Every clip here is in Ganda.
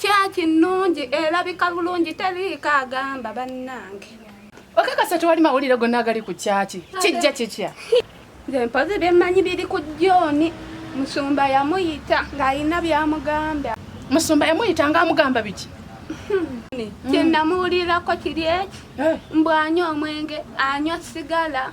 Kyaki nnungi erabika bulungi teriiko agamba bannange. Okakasa tewali mawulire gonna agali ku kyaki kijja kitya? Nze mpozi byemmanyi biri ku John musumba yamuyita ng'alina byamugamba. Musumba yamuyita ng'amugamba biki? Kye namuwulirako kiri eki eh. mbu anywa omwenge anywa sigala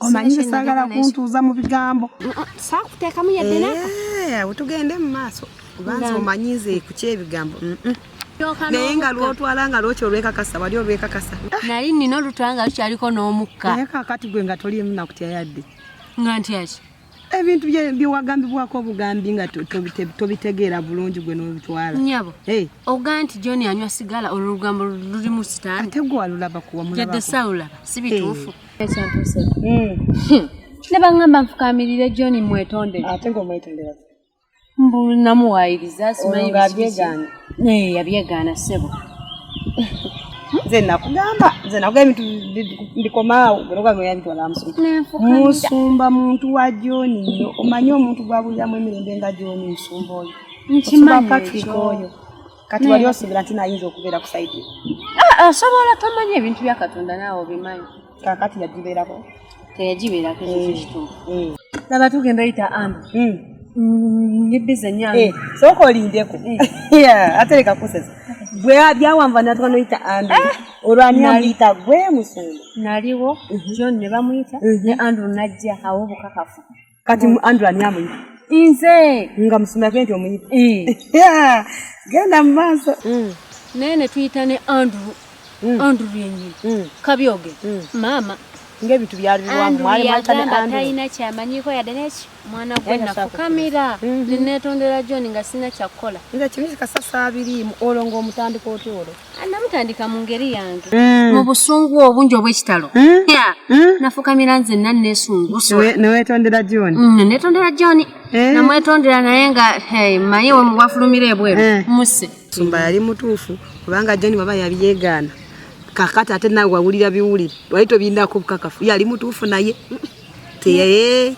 omanyi saagala kuntuuza mu bigambo saakuteekamu yadde naka eh, tugende mu maaso kubanza omanyi nze ku kyebigambo naye nga lwotwala nga lwokyo olwekakasa wali olwekakasa nali nina olutwala nga lukyaliko n'omukka naye kakati gwe nga toliimu nakutya yadde nga ntyaki ebintu byewagambibwako obugambi nga tobitegeera bulungi gwe nobitwala nyabo ogaa nti john anywa sigala olwo olugambo luli mu sitaani ate gwe walulaba kuwamuyadde sawulaba si bituufu hmm. ne baŋŋamba nfukamirire john mwetondere ate ngaomwetondera mbu namuwaayiriza simanyi byegaana naye yabyegaana ssebo nze nakugamba nze nakugamba ebintu ndikomaawo musumba muntu wa joni yo omanyi omuntu gwabuliramu emirembe nga joni musumba oyo nkimanyi oyo kati wali osuubira nti nayinza okubeera ku saidi ah, asobola ah, tomanya ebintu bya katonda naawe obimanyi kakati yagibeerako teyagibeerako ekyo laba tugenda yita am hmm. mm, nyibize nyange eh, sooka olindeko eh. ate leka kusesa gwe byawanva natwa noyita andrew eh. olwaniyita gwe musumba naliwo mhm. john ne bamuyita mhm. ne andrew najja awo obukakafu kati andrew ani amuyita nze nga musumake nti omuyita eh. genda mu maaso mm. naye netuyita ne andrew mm. andrew yenyini mm. kabyoge maama ngaebintu byalirwamutalina kyamanyiko yade neki mwana gwe nafukamira mhm. nenetondera john nga sina kyakukola nga kimizi kasasa abiriimu olwo ngaomutandika otya olwo namutandika mu ngeri yange mm. mu busungu obungi obw'ekitalo mm. mm. nafukamira nze nna nesunguneweetondera john netondera john eh. namwetondera naye nga manye wafulumira ebweru eh. muse sumba yali mutuufu kubanga john baba yabiyegaana kakati ate nawe wawulira biwulire wali tobindako bukakafu yali mutuufu naye teye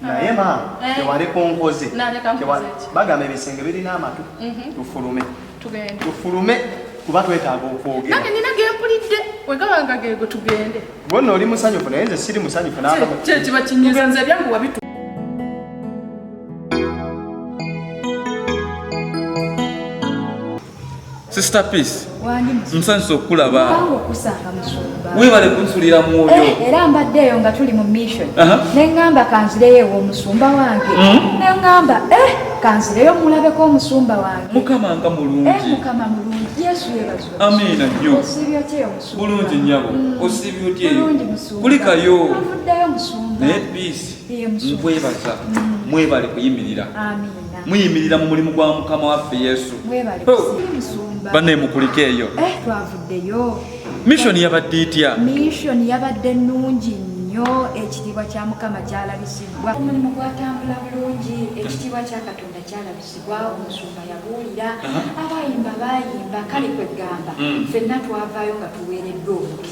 naye maama eh. tewali kunkoze bagamba ebisenge birina amatu mhm. tufulume tufulume kuba twetaaga okwogera nange nina gempulidde wegaba nga gego tugende gwonna oli musanyufu naye nze siri musanyufu kyekiba kinyiza nze ebyangu wabitu Sister Peace. Wandi musu. Msanso kula ba. Wangu kusanga musu. Wewe wale kunsulira mwoyo. Eh, era mbadde yo nga tuli mu mission. Uh -huh. Ne ngamba kanzireyo wo musumba wange. Mm -hmm. Ne ngamba eh kanzireyo mulabe ko musumba wange. Mukama nga mulungi. Eh mukama mulungi. Yesu yebazo. Amina nyo. Osibyo tye musumba. Bulungi nyabo. Mm. Osibyo tye. Bulungi musumba. Kulika yo. Avuddeyo musumba. Ne peace. Ye musumba. Mwebaza. Mm. Mwebale kuyimirira. Amina. muyimirira mu mulimu gwa mukama waffe yesu bane mukulike eyo eh, twavuddeyo mishoni yabadde itya mishoni yabadde nungi nnyo ekitiibwa kya mukama kyalabisibwa omulimu gwatambula bulungi ekitiibwa kya katonda kyalabisibwa omusumba yabuulira abayimba bayimba kale kwegamba mm. fenna twavaayo nga tuweereddwa omukisa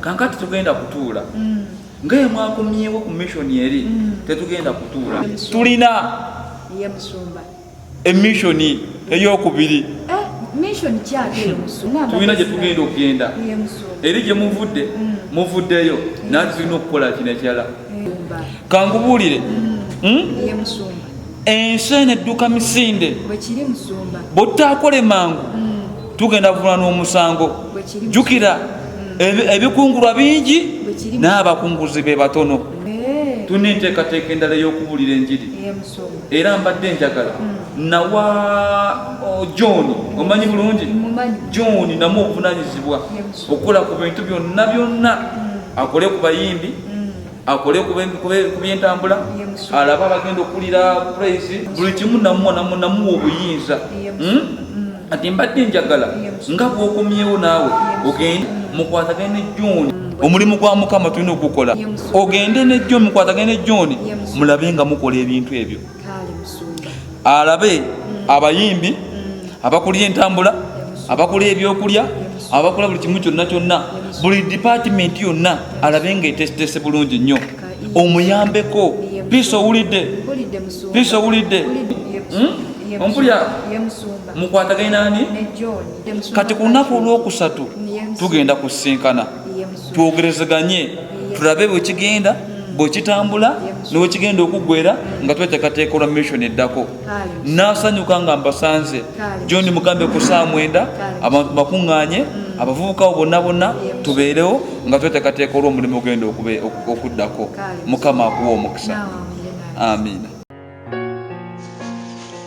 kankati tugenda kutuula mm. nga yemwakomyewo ku mission eri mm. tetugenda kutuula tulina emission eyokubiri eh, tulina gyetugenda okugenda eri gyemuvudde mm. muvuddeyo nati tulina okukola kinekirala kankubuulire hmm? ensi eno edduka misinde bwetutaakole mangu mm. tugenda vuna n'omusango jukira mm. ebikungulwa bingi n'abakunguzi be batono eh. tulina enteekateeka endala ey'okubuulira enjiri era mbadde njagala mm. nawa oh, john omanyi bulungi john namu obuvunanyizibwa okukola ku bintu byonna byonna akole ku bayimbi akole ku byentambula alaba abagenda okulira praise buli kimu namuwa obuyinza hmm? ati mbadde njagala nga bwokomyewo naawe ogende mukwatagane ne john omulimu gwa mukama tulina okugukola ogende ne john mukwatagane ne john mulabe nga mukola ebintu ebyo alabe mm. abayimbi mm. abakulira entambula abakulira ebyokulya abakola buli kimu kyonna kyonna buli dipatimenti yonna alabe nga etesetese bulungi nnyo omuyambeko piisi owulidde piisi owulidde hmm? ompulya mukwataganye nani kati ku lunaku olwokusatu tugenda kusinkana twogerezeganye tulabe bwekigenda bwekitambula newekigenda okuggwera nga tweteekateeka olwa mission eddako nasanyuka nga mbasanze john mugambe ku saa mwenda abantu bakuŋŋaanye mm. abavubukawo bonna bonna tubeerewo nga tweteekateeka olwomulimu ogenda okuddako mukama akuwa omukisa amiina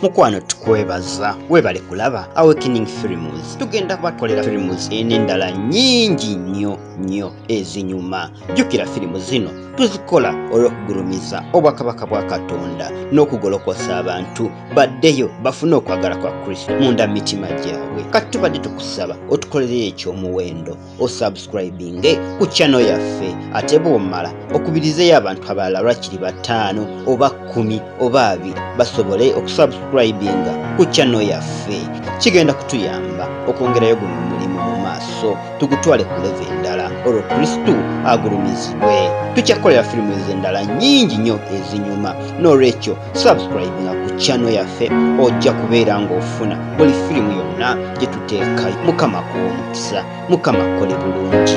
mukwano tukwebaza webale kulaba awakening films tugenda kubakolera films enendala nyingi nnyo nnyo ezinyuma jjukira filimu zino tuzikola olw'okugulumiza obwakabaka bwa katonda n'okugolokosa abantu baddeyo bafune okwagala kwa kristo munda mitima gyabwe kati tubadde tukusaba otukolere ekyomuwendo osubscribinge ku channel yaffe ate bwomala okubirizeyo abantu abalala lwakiri bataano oba kkumi oba abiri basobole okusubscribinga ku channel yaffe kigenda kutuyamba okwongerayo guno omulimu mu maaso tugutwale ku leve endala olwo kristu agulumizibwe tukyakukolera firimu ezo endala nyingi nnyo ezinyuma n'olwekyo subscribe nga ku channel yaffe ojja kubeera ng'ofuna buli firimu yonna gye tuteeka mukama kuwa omukisa mukama kole bulungi